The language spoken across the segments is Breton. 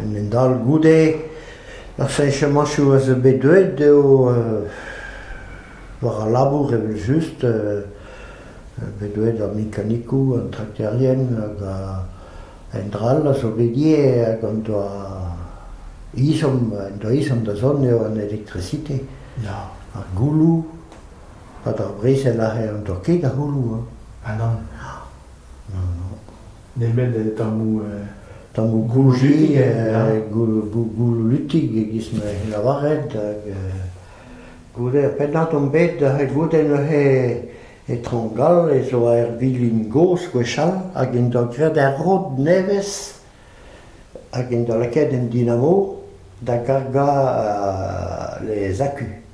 En un dal goude ar cheñchamañchoù a zo bet deuet eo war al labour evel-just bet deuet ar mekanikoù, an trakterien hag endra all a zo bet ivez hag en doa ezhomm en doa ezhomm da zont eo an elektrisite. Ya. Ar gouloù, pad ar brezel aze n'en doa ket a c'houloù. Ha nann. nemet tammoù gouji, goulutig e-giz ma lavaret, hag goude ar pennad on bet goude neuze e Traoñ-Gall ez oa ur vilin gozh gwechall hag en doa graet ur rod nevez hag en doa lakaet un dinamo da gargañ les acus.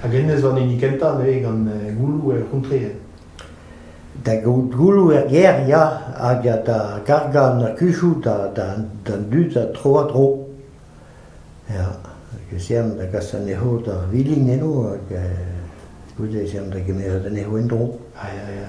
Hag hennezh zo an hini kentañ neuze gant gouloù er c'hontreel. Da gaout gouloù er gêr ya, hag da gargañ an akuzoù d'an dud tro-ha-tro. Ya, ez ean da gas anezho d'ar vilin eno hag goude ez ean da gemeret anezho en-dro. Ah ya ya.